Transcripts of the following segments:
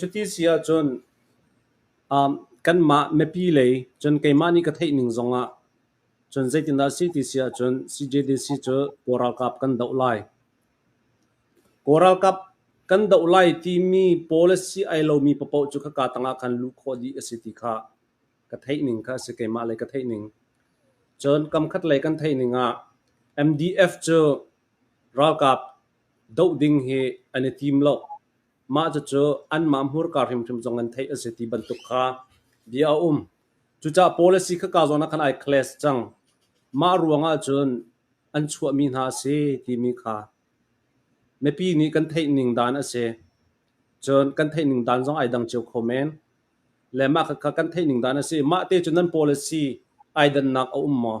Cuti si ahcun kanmah mipi lei cun keimah nih ka theih ning zongah cun zeitindah a si ti si ahcun CJDC cu Kawl ralkap kan doh lai. Kawl ralkap kan doh lai timi policy ai lomi paoh cu khaka tangah khan luh khawh dih a si ti kha ka theih ning kha a si. Keimah lei ka theih ning. Cun kam khat lei kan theih ning ah MDF cu ralkap doh ding hi an i tim lo. Mah cucu anmah hmurka hrimhrim zong an theih a si ti bantuk kha bia a um. Cucaah policy kha ka zawn ah khan ai clash cang. Mah ruangah cun an chuahmi hna a si timi kha mipi nih kan theih ning dan a si. Cun kan theih ning dan zong ai dang cio kho men. Le mah kha kan theih ning dan a si. Mah te cun nan policy ai dannak a um maw?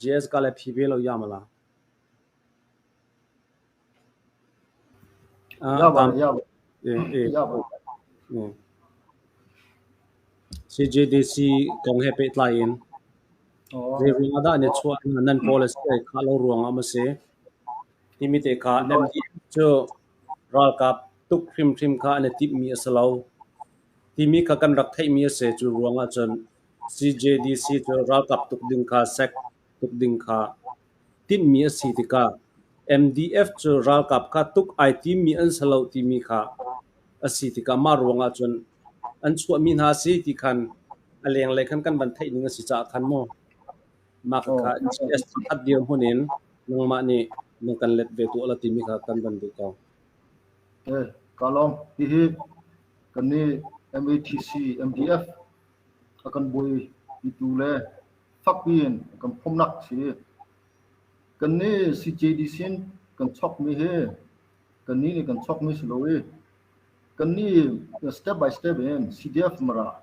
JS ka le phi ve lo ya mala. Ya ba ya ba. Eh ya ba. CJDC kong he pe tlai in. Ze ruang ada ne chua nan policy ka lo ruang am se. Timi te ka nem di chu ralkap tuk hrim hrim kha ne tip mi asalo. Timi ka kan rak thei mi ase chu ruang a chun CJDC cu ralkap tuk ding kha sek tuk ding kha timhmi a si tikah MDF cu ralkap kha tuk ai timmi an si lo timi kha a si tikah mah ruangah cun an chuahmi hna a si ti khan a lenglei khan kan van theih ning a si caah khan maw mah kha GS khat dirhmun in nangmah nih na kan let ve tuah la timi kha kan van duh ko. Eh, Kalong, hihi kan nih MATC, MDF a kan buaipitu le fakpi in a kan phomhnak a si. Kannih CJDC in kan chawkmi hi kannih nih kan chawkmi si lo i kannih step by step in CDF mara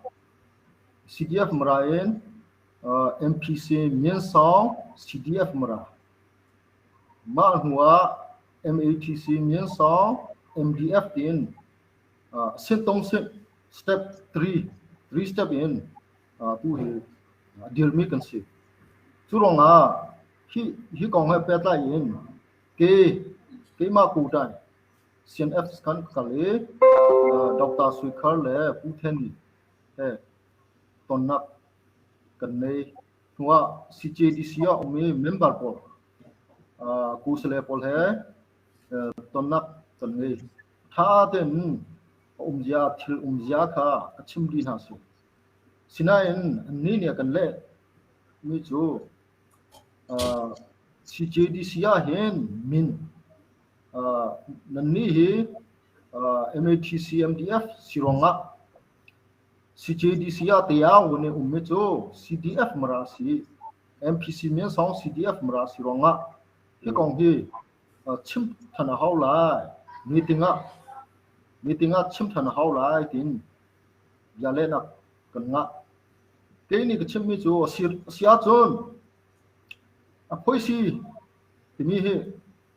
CDF mara in uh, MPC Myensong CDF mara mah hnuah MATC Myensong MDF tiin Setdong step three, three step in tu hi dirmi kan si. Cu ruangah hi hi kong he pehtlai in ke keimah kutan CNF kan kal i Dr. Suikhar le Pu Theni he tonnak kan nei hnuah CJDC ah ummi member pawl kusale pawl he tonnak kan ngei. A ṭha tein a umzia thil umzia kha a chim dih hna sih. Sinain annih nih a kan leh mi cu CJDC ahhin min nannih hi MATCMDF si ruangah CJDC ah tiang wun i ummi cu CDF mara si MPC min sawng CDF mara si ruangah hi kong hi chim ṭhan a hau lai. Meeting ah meeting ah chim ṭhan a hau lai tiin bia lehnak kan ngah. Kei nih ka chimmi cu a si, a si ahcun a phoisi timi hi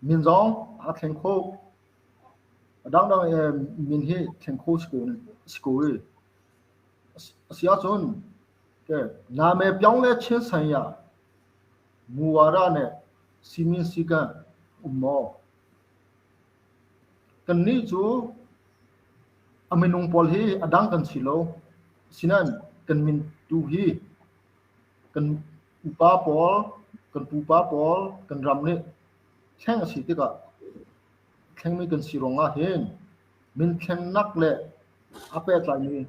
min zong aa thleng kho. A dangdang e min hi thleng kho si ko, si ko i a si ahcun okay, na me pyong le chin san ya Muara nih siminsi kan um maw? Kannih cu a minung pawl hi a dang kan si lo. Asinain kan min tu hi kan upa pawl, kan pupa pawl, kan ram nih thleng a si tikah thlengmi kan si ruangah hin min thlennak le a pehtlaimi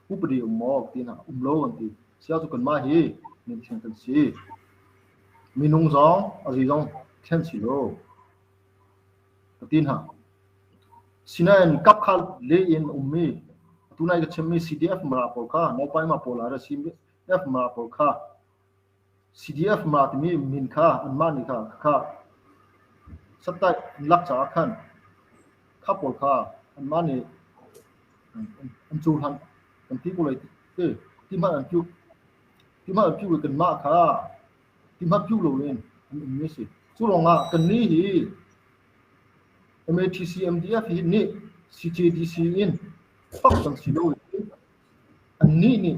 Upadi um maw tiin a um lo kan ti. Sia cu kanmah hi mithiang kan si. Minung zong a zi zong thlen si lo. Ka ti hna. Sinain kap kha le in ummi tunai ka chimmi CDF mara pawl kha naupai ma pawl ah ra CDF mara pawl kha CDF ma timi min kha anmah nih kha ka khah. Sattaih an lak caah khan kha pawl kha anmah nih an an cohlan kan ti ko lai ti ti hmanh an phiu ti hmanh an phiu lo kanmah kha ti hmanh phiu lo in an ummi a si. Cu lawngah kannih hi MATC MDF hi nih CJDC in fak kan si lo i annih nih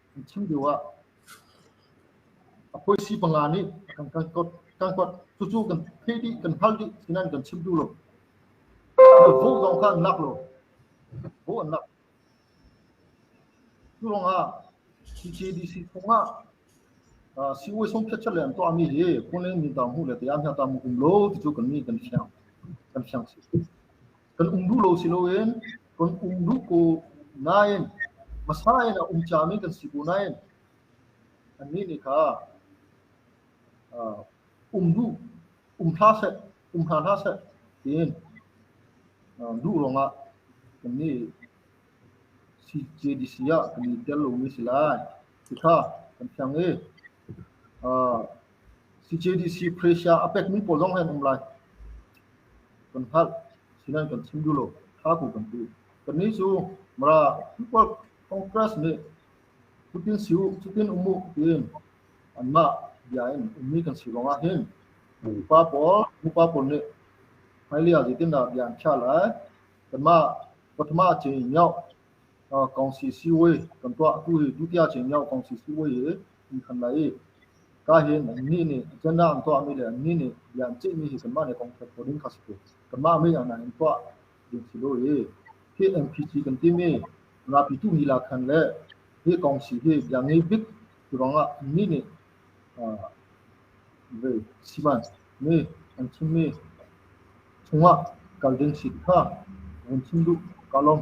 A phuisi panga nih kan kan kawt kan kawt cucu kan theih dih kan hal dih tinan kan chim duh lo. Na vote zong kha an lak lo. Vote an lak. Cu lawng ah CCDC chung ah siwe song khet le an tuah mi hi phun le min ta mu le te an hna ta mu kum lo ti cu kan ni kan fiang kan fiang si. Kan um duh lo si loin kan um duh ko nain hmasa in a um ciami kan si ko nain annih nih kha uh, um duh um hla seh um hna hna seh tiin uh, duh ruangah kan nih CJDC ah kan i tel lomi si lai. Thitha kan thiang i CJDC Prussia a pekmi pawl zong an um lai. Kan hngalh, sinan kan chim duh lo, tha ku kan ti. Kannih cu Mara People Congress nih cutin si u, cutin um u tiin anmah bia in ummi kan si lawngah hin upa pawl upa pawl nih hmailei ah zeitindah bia an khiah lai kanmah Pathuma Chin Nyoh Kong si siui kan tuah tu hi tutiang chin lio kong si siui hi an khan lai i kahin annih nih canah an tuahmi le annih nih bia an ceihmi hi kanmah nih kong ṭhial khawh ding kha a si ko. Kanmah mi hna in tuah ding si lo i hi MPC kan timi ngapitu lila khan le hi kong si hi bia ngei bik cu ruangah annih nih vei siman mi an chimmi chungah kal ding si kha vun chim duh ka lawm.